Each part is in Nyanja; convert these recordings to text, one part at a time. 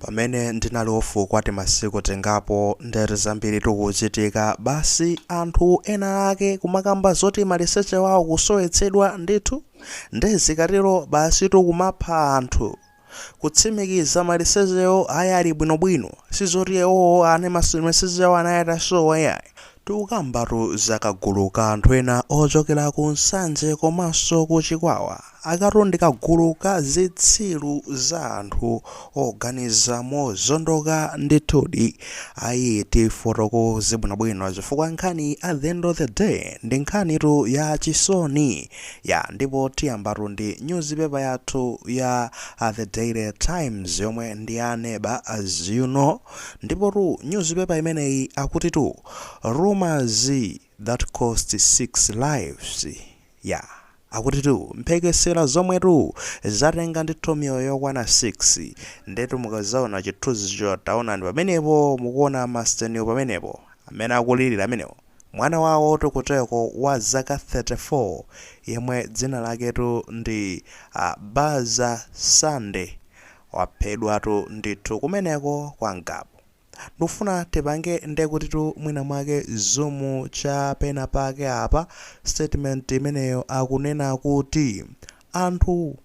Pamene ndinali off kwa timasiku tingapo nde zambiritu kuchitika basi anthu ena ake kumakamba zoti maliseche wawo kusowetsedwa ndithu nde zikatero basitu kumapha anthu kutsimikiza malisechewo ayi ali bwinobwino sizoti iwowo ana maliseche awo anali atasowa yayi Tikukambatu za kagulu ka anthu ena ochokera ku Nsanje komanso ku Chikwawa. Akatu ndi kagulu ka zitsiru za anthu oganiza mozondoka ndithudi. Ayi tifotokoze bwinobwino chifukwa nkhani at the end of the day ndi nkhanitu ya chisoni. Ya ndipo tiyambatu ndi nyuzipepa yathu ya The Daily Times yomwe ndi ya a neighbor as you know. Ndipotu nyuzipepa imeneyi akutitu Rumours that cost 6 lives ya akutitu mphekesera zomwetu zatenga ndithu miyoyo yokwana 6 ndetu mukadzaona chithunzicho taonani pamenepo mukuona masteniwo pamenepo amene akulilira amenewo mwana wawotu kuteko wa zaka 34 yemwe dzina laketu ndi uh, Baza Sande Waphedwatu ndithu kumeneko kwa Ngabu. Ndikufuna tipange ndekutitu mwina mwake zoom cha pena pake apa statement imeneyo akunena kuti anthu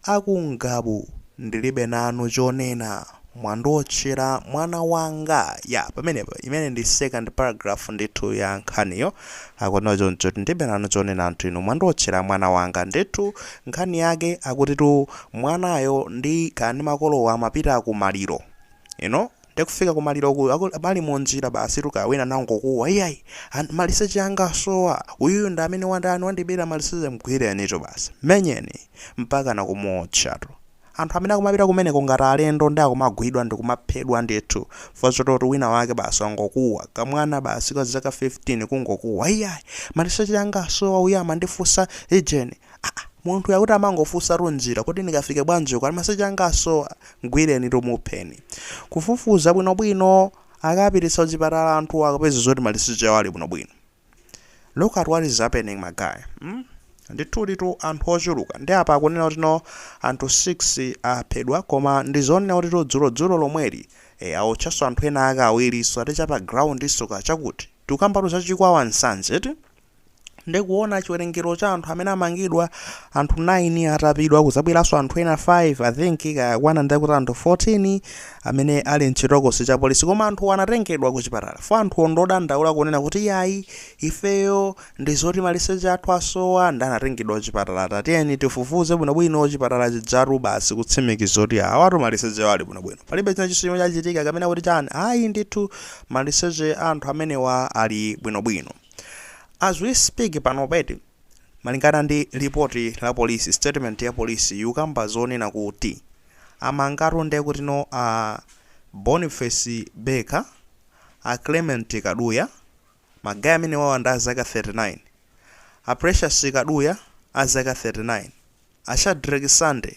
a ku Ngabu ndilibe nanu chonena mwandiotchera mwana wanga ya pamenepa imene ndi second paragraph ndithu ya nkhaniyo Akunena choncho ndilibe nanu chonena anthu inu mwandiotchera mwana wanga ndithu nkhani yake akutitu mwanayo ndi kani makolowo amapita ku maliro you know nde kufika ku maliroku aku, ali mu njira basitu kaya wina nangokuwa iyayi an, maliseche anga asowa uyuyu ndi amene wandani wandibera maliseche mgwirenitu basi mmenyeni mpakana kumuotchatu Anthu amene akumapita kumeneko ngati alendo nde akumagwidwa ndikumaphedwa ndithu for zoti oti wina wake basi wangokuwa, ka mwana basi ka zaka 15 kungokuwa iyayi maliseche anga asowa uyu amandifunsa ijeni aah munthuyo akuti amangofunsatu njira kodi ndikafike bwanji uko aa maliseche anga asowa mgwirenitu mupheni kufufuza bwinobwino akawapititsa kuchipatala anthuwa akapeza zoti maliseche awo ali bwinobwino. Look at what is happening my guy mm? ndithuditu anthu ochuluka ndi apa akunena kuti no anthu 6 aphedwa koma ndizonena kuti to dzulo dzulo lomweli e, aotchanso anthu ena ake awirinso ati chapa ground ndi tsoka chakuti tikukambatu za chikwawa nsanje eti ndi kuona chiwerengero cha anthu amene amangidwa anthu 9 atapidwa kudzabweranso anthu ena 5 i think kakwana ndi kuti anthu 14 amene ali mchitokosi cha polisi koma anthuwa anatengedwa kuchipatala chifukwa anthuwo ndi odandaula kunena kuti iyayi ifeyo ndizoti maliseche athu asowa nde anatengedwa kuchipatala tatiyeni tifufuze bwinobwino chipatala chijatu basi kutsimikiza kuti awatu malisechewo ali bwinobwino palibe china chonse chomwe chachitika kapena kuti chani ayi ndithu maliseche a anthu amenewa ali bwinobwino as we speak panopa eti Malingana ndi lipoti la polisi statement ya polisi yikukamba zonena kuti amangatu ndekutino a Boniface Beka, a Clement Kaduya, ma guy amenewawa ndi a zaka 39, a Precious Kaduya a zaka 39, a Shadreck Sande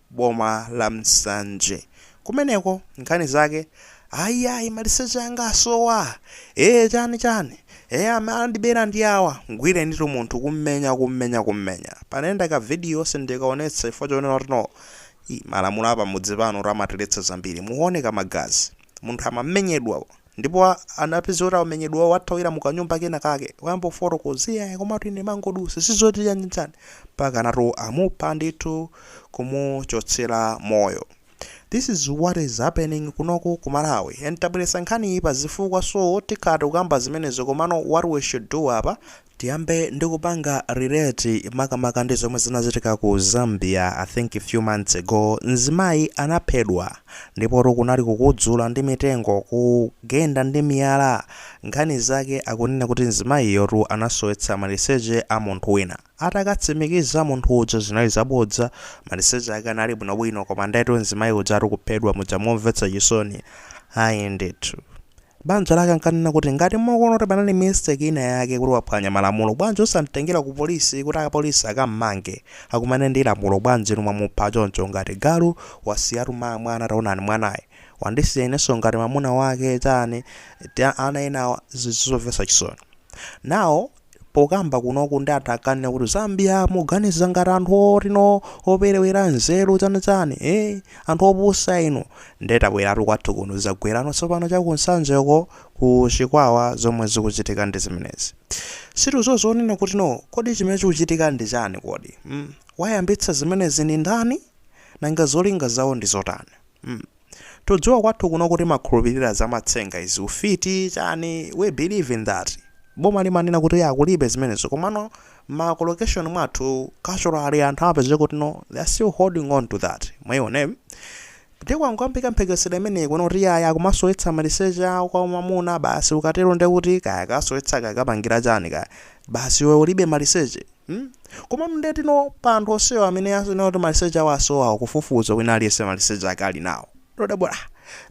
boma la Nsanje kumeneko nkhani zake ayi ayi maliseche anga asowa ee chani chani ee amandibera ndi awa mgwireni ndithu munthu kummenya kummenya kummenya panayenda ka video sindikaonetsa chifukwa chonena kuti no Ii, malamulo apamudzi pano amatiletsa zambiri mukuoneka magazi munthu amamenyedwa Ndipo a, anapeza kuti akumenyedwa, wathawira mu kanyumba kena kake, wayamba kufotokoza, Iyayi, komatu ine ndimangodutsa, si zoti chani chani. Mpaka anatu amupha ndithu, kumuchotsera moyo. This is what is happening kunoku ku Malawi. And tabweretsa nkhaniyi pa zifukwa so tikhala tikukamba zimenezo komano what we should do apa Tiyambe ndi kupanga relate makamaka ndi zomwe zinachitika ku Zambia I think a few months ago, mzimayi anaphedwa ndipotu kunali kukudzula ndi mitengo, kugenda ndi miyala, nkhani zake akunena kuti mzimayiyotu anasowetsa maliseche a munthu wina. Atakatsimikiza munthu uja zinali zabodza, maliseche ake anali bwinobwino koma ndetu mzimayi ujatu kuphedwa muja momvetsa chisoni ayi ndithu. Banja lake ankanena kuti, Ngati mukuona kuti panali mistake inayake kuti waphwanya malamulo, bwanji osam'tengera kupolisi kuti apolisi akam'mange? Akumane ndi lamulo, bwanji inu mwamupha choncho ngati galu? Wasiyatu mwana, taonani mwanayu. Wandisiya inenso ngati mamuna wake, chani? Ana enawa zinthu zomvetsa chisoni. Now, pokamba kunoku ndi anthu ankanena kuti zambia muganiza ngati anthu oti no operewera nzeru chani chani eh anthu opusa inu nde tabweratu kwathu kuno zagwera kuno tsopano cha ku Nsanjeko ku chikwawa zomwe zikuchitika ndi zimenezi situzo zonena kuti no kodi chimene chikuchitika ndi chani kodi mm? wayambitsa zimenezi ndi ndani nanga zolinga zawo ndi zotani mm. Tudziwa kwathu kuno kuti timakhulupilira zamatsenga izi ufiti chani we believe in that boma limanena kuti ya kulibe zimenezo komano mma location mwathu culturally anthu amapezeka kuti no they are still holding on to that mwaiona ndiye kwangoyambika mphekesela imeneyi kunena kuti yayi akumasowetsa maliseche a kwa mwamuna basi ukatero ndiye kuti kaya akasowetsa kaya akapangira chani kaya basi iwe ulibe maliseche Hmm? Komano ndiye kuti no pa anthu onsewa amene akunena kuti maliseche awo asowa kufufuza wina aliyense maliseche ake ali nawo. Ndodabwa ah,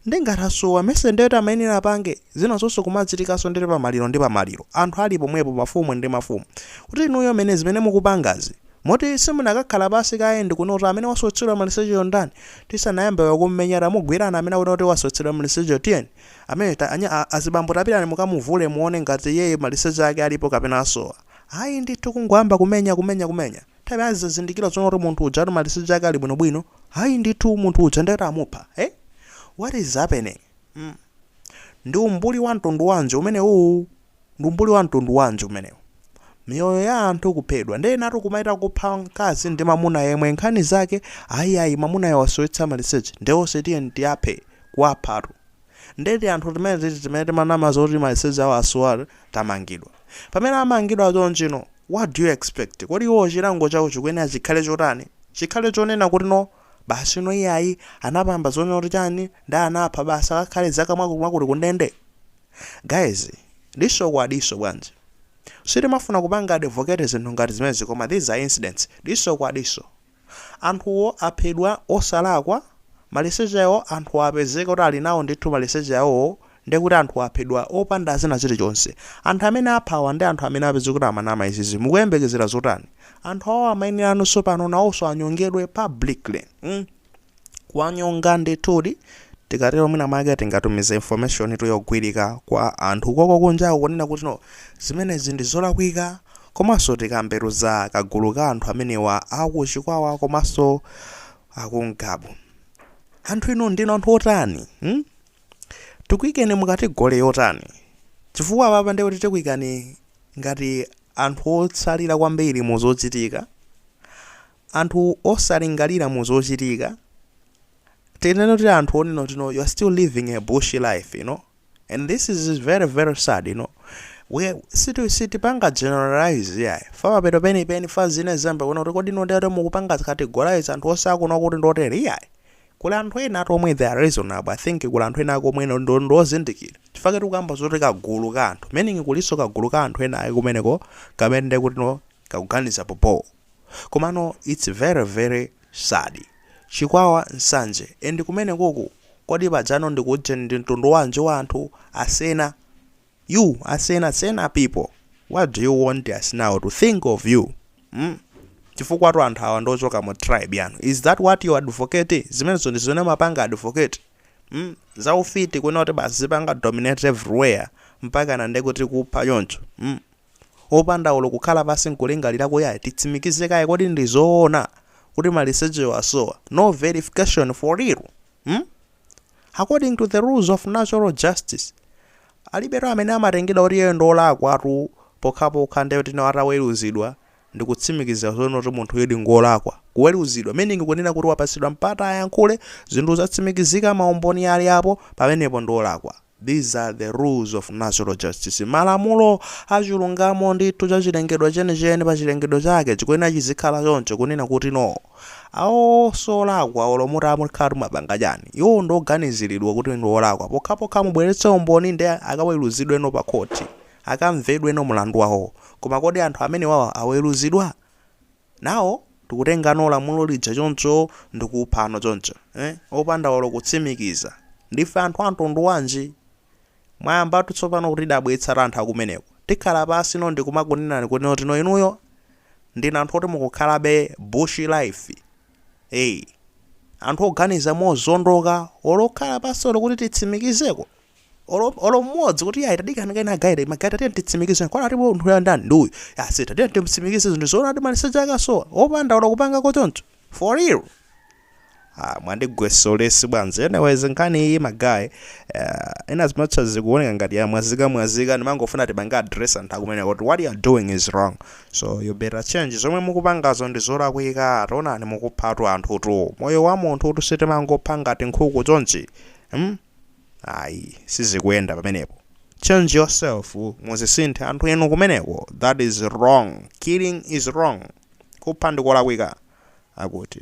ndi ngati asowa nthawi ndiye kuti amayenera apange zinazonso kumachitikanso ndi pa maliro ndi pa maliro anthu ali pomwepo mafumu ndi mafumu kuti inuyo mene zimene mukupangazi moti simunakakhala pansi kaye ndi kuona kuti amene wasowetsedwa malisecheyo ndani tisanayambe kumumenya tamugwirani amene akunena kuti wasowetsedwa malisecheyo tiyeni amene ta, anya, a- azibambo tapitani mukamuvule muone ngati iyeyo maliseche ake alipo kapena asowa. Ayi ndithu kungoyamba kumenya kumenya kumenya. Mapeto ake azazindikira zonena kuti munthu uja maliseche ake ali bwinobwino. Ayi ndithu munthu uja ndiye kuti amupha. Eh? What is happening? Mm. Ndi umbuli wa mtundu wanji umenewu? Ndi umbuli wa mtundu wanji umenewu? Miyoyo ya anthu kuphedwa. Ndiye inutu kumachita kupha mkazi ndi mamuna yemwe nkhani zake ayi ayi mamunayo wasowetsa maliseche. Ndiye onse tiyeni tiwaphe kuwaphatu. Nde tianthu timeneti timene timanama zoti maliseche awo asowa tamangidwa. Pamene amangidwa chonchino what do you expect? Kodi iwowo chilango chawo chikuyenera chikhale chotani? Chikhale chonena kuti no basi no iyayi anapanga zonena kuti chani nde anapha basi akakhale zaka mwakuti mwakuti kundende? Guys diso kwa diso bwanji? Sitimafuna kupanga advocate zinthu ngati zimenezi koma these are incidents. Diso kwa diso. Anthuwo aphedwa osalakwa, maliseche awo anthuwo apezeka kuti ali nawo ndithu maliseche awowo ndiye kuti anthuwo aphedwa opanda china chilichonse. Anthu amene aphawa ndi anthu amene apezeka kuti amanama izizi mukuyembekezera zotani? Anthu awawa amayenera nawonso pano nawonso anyongedwe publicly. mm. kuwanyonga ndithudi tikatero mwina mwake tingatumize information yogwirika kwa anthu koko kunjaku kunena kuti no zimenezi ndi zolakwika komanso tikambetu za kagulu ka anthu amenewa aku Chikwawa komanso aku Ngabu anthu inu ndinu anthu otani hmm? tikuikeni mu category yotani chifukwa apapa ndiye kuti tikuikani ngati anthu otsalira kwambiri mu zochitika anthu osalingalira mu zochitika tinene kuti anthu onena kuti no you're still living a bush life you know and this is very very sad you know we siti sitipanga generalize iyayi fa mapeto pena pena fans ina iyambe kunena kuti kodi mukatero mukupanga categorize anthu onse akuno kuti ndotere iyayi kuli anthu ena oti omwe they are reasonable i think kuli anthu ena akomwe ndo- ndo- ndozindikira chifukwa tikukamba zoti kagulu ka anthu meaning kulinso kagulu ka anthu ena ayi kumeneko kamene ndekuti no kakuganiza bhobho komano its very very sad chikwawa nsanje and kumenekoku kodi pajano ndikuujeni ndi mtundu wanji wa anthu asena you asena sena people what do you want us now to think of you mm? chifukwatu anthu awa ndi ochoka mu tribe yanu is that what you advocate zimenezo ndi zimene mumapanga advocate mm? za ufiti kunena kuti basi zipanga dominate everywhere mpaka na ndekuti kupha choncho mm? opanda olo kukhala pansi nkulingalira kuti ayi titsimikize kaye kodi ndi zoona kuti malisechewa asowa no verification for real mm? according to the rules of natural justice alibetu amene amatengedwa kuti iyeyo ndi olakwatu pokhapokha ndiye kuti no ataweruzidwa ndi kutsimikiza zoona kuti munthuyudi ngolakwa kuweruzidwa meaning kunena kuti wapatsidwa mpata ayankhule zinthu zatsimikizika maumboni ali apo pamenepo ndi olakwa These are the rules of natural justice. Malamulo a chilungamo ndithu cha chilengedwe chenicheni pa chilengedwe chake chikuyenera chizikhala choncho kunena kuti no. Awo solakwa olo mutamukhala kuti mwapanga chani. Iwo ndi oganiziridwa kuti ndi olakwa pokhapokha mubweretse umboni nde akaweluzidwe no pa khoti. Akamvedwe no mulandu wawo. Koma kodi anthu amenewawa aweluzidwa? nawo tikutengano lamulo lija choncho ndikuphano choncho eh opanda olo kutsimikiza ndife anthu amtundu wanji mwayambatu tsopano kutidabwitsatu anthu akumeneko tikhala pansi no ndikumakunenani kuti no inuyo ndinu anthu oti mukukhalabe bush life eh anthu oganiza mozondoka olo kukhala pansi olo kuti titsimikizeko olo olo mmodzi kuti ayi tadikani kaye magayi ta magayi tatiye titsimikize kwana ati munthuyo ndani ndi uyu basi tatiye timsimikize zinthu zoona ati maliseche ake asowa opanda olo kupangako choncho for real Ah, mwandigwetsa ulesi bwanji anyways nkhani iyi magayi uh, in as much as zikuoneka ngati yamwazika mwazika ndimangofuna tipange address anthu akumeneko kuti what you are doing is wrong so you better change zomwe mukupangazo ndi zolakwika taonani mukuphatu anthutu moyo wa munthutu sitimangopha ngati nkhuku chonchi hmm? ayi sizikuyenda pamenepo change yourself muzisinthe anthu inu kumeneko that is wrong killing is wrong kupha ndikolakwika akuti